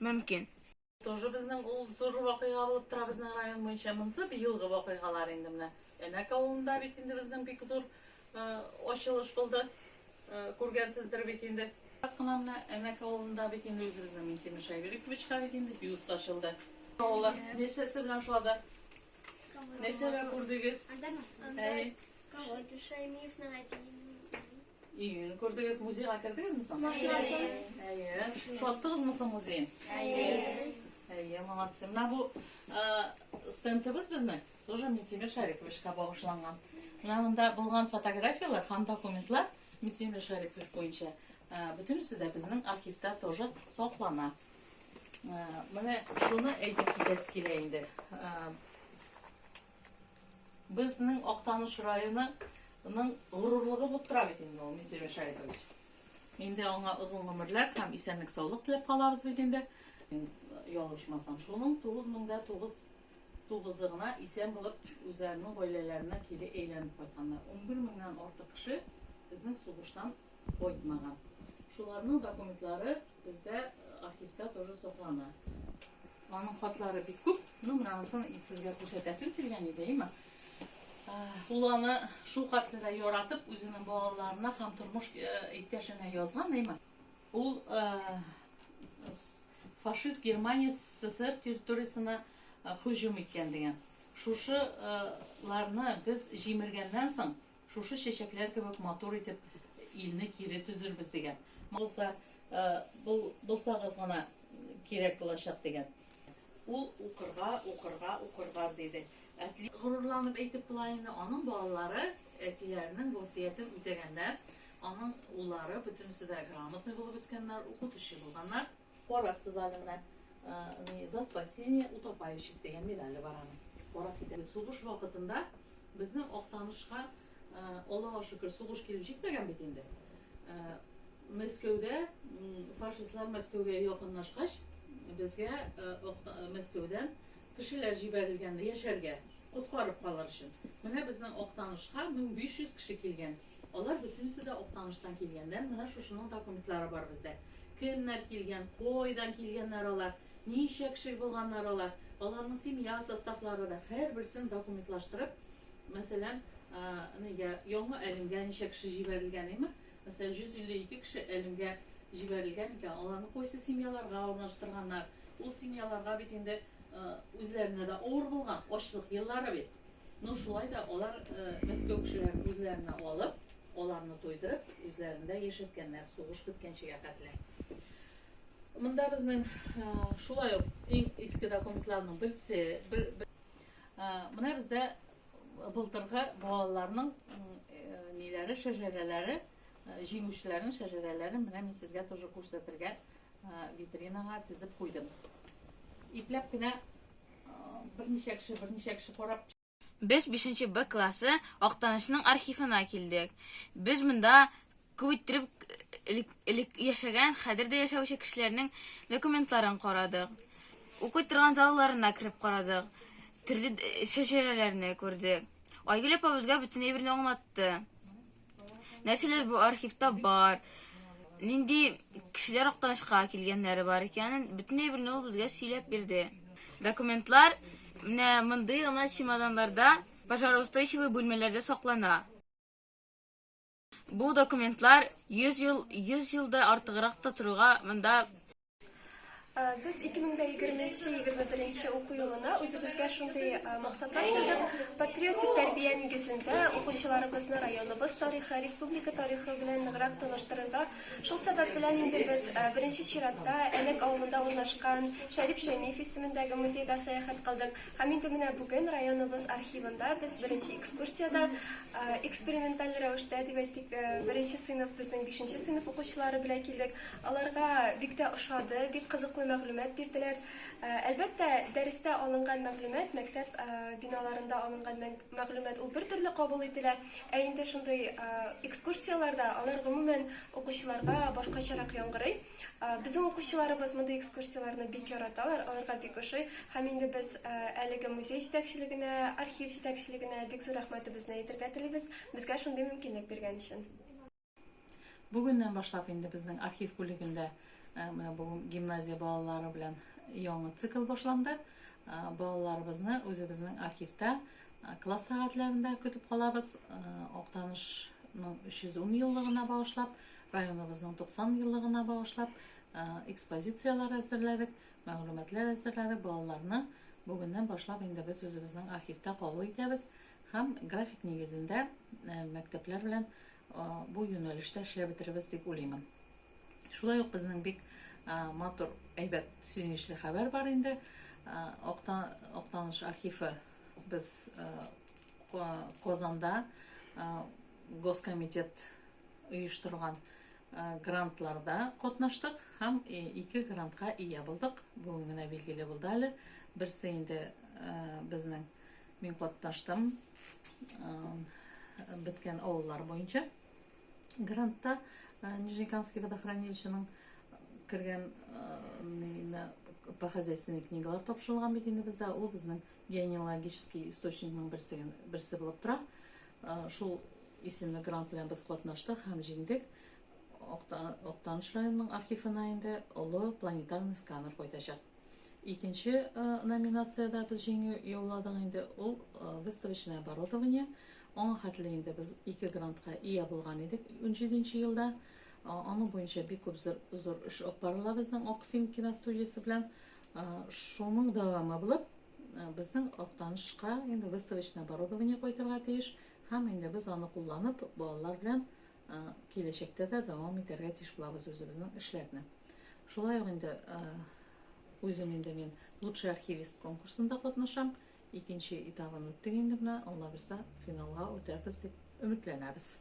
мөмкин. Тоже безнең ул зур вакыйга булып тора безнең район буенча. Монысы быелгы вакыйгалар инде менә. Әнәк авылында бит инде безнең бик зур ачылыш булды. Күргәнсездер бит инде. Кына менә Әнәк авылында бит инде үзебезнең Минтимер Шәйбековичка бит инде бюст ачылды. Авылы нәрсәсе белән шулады? Нәрсәләр күрдегез? Анда Махтанда. Кавай Тушаймиевның әтиен Июнь күрдегез, музейга кердегезме соң? Машинасын. Әйе. Шаттыгызмы соң музей? Әйе. Әйе, молодцы. Менә бу стендыбыз безнең тоже Митимир Шариповичка багышланган. Менә монда булган фотографияләр һәм документлар Митимир Шарипович буенча бөтенесе дә безнең архивта тоже саклана. Менә шуны әйтеп китәсе килә инде. Безнең Актаныш районы ның горурлыгы булып тора бит инде ул Минзил Мишаилович. Инде аңа озын гомерләр һәм исәнлек-саулык теләп калабыз бит инде. Ялгышмасам, шуның тугыз мең дә тугыз тугызы гына исән булып үзләренең гаиләләренә кире әйләнеп кайтканнар. Унбер меңнән артык кеше безнең сугыштан кайтмаган. Шуларның документлары Бездә архивта тоже соклана. Аның хатлары бик күп. Ну, менә анысын сезгә күрсәтәсем килгән иде, әйме? Ул аны шул хәтле дә яратып, үзенең балаларына һәм тормыш иптәшенә язган, әйме? Ул фашист Германия СССР территориясенә һөҗүм иткән дигән. Шушыларны без җимергәннән соң, Шушы чәчәкләр кебек матур итеп илне кире төзербез, дигән. Кызга бул, булсагыз гына кирәк булачак, дигән. Ул укырга, укырга, укырга, диде. Әти. Горурланып әйтеп була инде, аның балалары әтиләренең васыятен үтәгәннәр, аның уллары бөтенесе дә грамотный булып үскәннәр, укытучы булганнар. Карарсыз әле менә не за спасение утопающих дигән медале бар аның. Карап китәбез. Сугыш вакытында безнең Актанышка, Аллага шөкер, сугыш килеп җитмәгән бит инде. Мәскәүдә фашистлар Мәскәүгә якынлашкач, безгә Мәскәүдән кешеләр җибәрелгән яшәргә, коткарып калыр өчен. Менә безнең Актанышка 1500 кеше килгән. Алар бөтенесе дә Актаныштан килгәннәр, менә шушының документлары бар бездә. Кемнәр килгән, кайдан килгәннәр алар, ничә кеше булганнар алар, аларның семья составлары да, һәрберсен документлаштырып, мәсәлән, нигә Яңа Әлемгә ничә кеше җибәрелгән, әйме? Мәсәлән, 152 кеше Әлемгә җибәрелгән икән, аларны кайсы семьяларга урнаштырганнар, ул семьяларга бит инде үзләренә дә авыр булган, ачлык еллары бит. Ну, шулай да алар Мәскәү кешеләрен үзләренә алып, аларны туйдырып, үзләрендә яшәткәннәр, сугыш беткәнчегә хәтле. Монда безнең шулай ук иң иске документларның берсе, бер, бер, менә бездә былтыргы балаларның ниләре, шәҗәрәләре, җиңүчеләрнең шәҗәрәләрен менә мин сезгә тоже күрсәтергә витринага тезеп куйдым. Ипләп кенә Берничә кеше, берничә кеше карап. Без бишенче Б классы Актанышның архивына килдек. Без монда күп иттереп элек, элек яшәгән, хәзер дә яшәүче кешеләрнең документларын карадык. Укый торган залларына кереп карадык. Төрле шәҗәрәләрне күрдек. Айгөл апа безгә бөтен әйберне аңлатты. нәрсәләр бу архивта бар, нинди кешеләр Актанышка килгәннәре бар икәнен бөтенләй берне ул безгә сөйләп бирде. Документлар менә мондый гына чемоданнарда, пожароустойчивый бүлмәләрдә саклана. Бу документлар 100 ел, 100 елда артыграк та торуга монда Без 2023-2021 уку елына үзебезгә шундый максатлар куйдык. Патриотик тәрбия нигезендә укучыларыбызны районыбыз тарихы, республика тарихы белән ныграк таныштырырга. Шул сәбәп белән инде без беренче чиратта Әлек авылында урнашкан Шәрип Шәймиев исемендәге музейга сәяхәт кылдык. Һәм инде менә бүген районыбыз архивында без беренче экскурсиядә эксперименталь рәвештә дип әйтик, беренче сыйныф, безнең бишенче сыйныф укучылары белән килдек. Аларга бик тә ошады, бик кызыклы мәгълүмат бирделәр. Әлбәттә, дәрестә алынган мәгълүмат, мәктәп биналарында алынган мәгълүмат ул бертөрле кабул ителә, ә инде шундый экскурсияләрдә алар гомумән укучыларга башкачарак яңгырый. Безнең укучыларыбыз мондый экскурсияләрне бик яраталар, аларга бик ошый. Һәм инде без әлеге музей җитәкчелегенә, архив җитәкчелегенә бик зур рәхмәтебезне әйтергә телибез, безгә шундый мөмкинлек биргән өчен. Бүгеннән башлап инде безнең архив бүлегендә менә бу гимназия балалары белән яңа цикл башланды. Балаларыбызны үзебезнең архивта класс сәгатьләрендә көтеп калабыз. Актанышның 310 еллыгына багышлап, районыбызның 90 еллыгына багышлап экспозицияләр әзерләдек, мәгълүматлар әзерләдек. Балаларны бүгеннән башлап инде без үзебезнең архивта кабул итәбез һәм график нигезендә мәктәпләр белән бу юнәлештә эшләп бетерербез дип уйлыймын. Шулай ук безнең бик матур, әйбәт, сөенечле хәбәр бар инде. Актаныш архивы без Казанда Госкомитет оештырган грантларда катнаштык һәм ике грантка ия булдык. Бүген генә билгеле булды әле. Берсе инде безнең Мин катнаштым беткән авыллар буенча грантта Нижнекамский водохранилищеның кергән по хозяйственной книгалар тапшырылган бит инде бездә ул безнең генеалогический источникның берсе берсе булып тора шул исемле грант белән без катнаштык һәм җиңдек Октаныш районының архивына инде олы планетарный сканер кайтачак Икенче номинациядә без җиңү яуладык инде, ул выставочное оборудование. Аңа хәтле инде без ике грантка ия булган идек 17 нче елда. Аның буенча бик күп зур эш алып барыла безнең Акфин киностудиясе белән. Шуның дәвамы булып, безнең Актанышка инде выставочное оборудование кайтырга тиеш һәм инде без аны кулланып балалар белән киләчәктә дә дәвам итәргә тиеш булабыз үзебезнең эшләрне. Шулай ук инде үзем инде мин лучший архивист конкурсында катнашам. Икенче этабын үттек инде менә, Алла бирса, финалга үтәрбез дип өметләнәбез.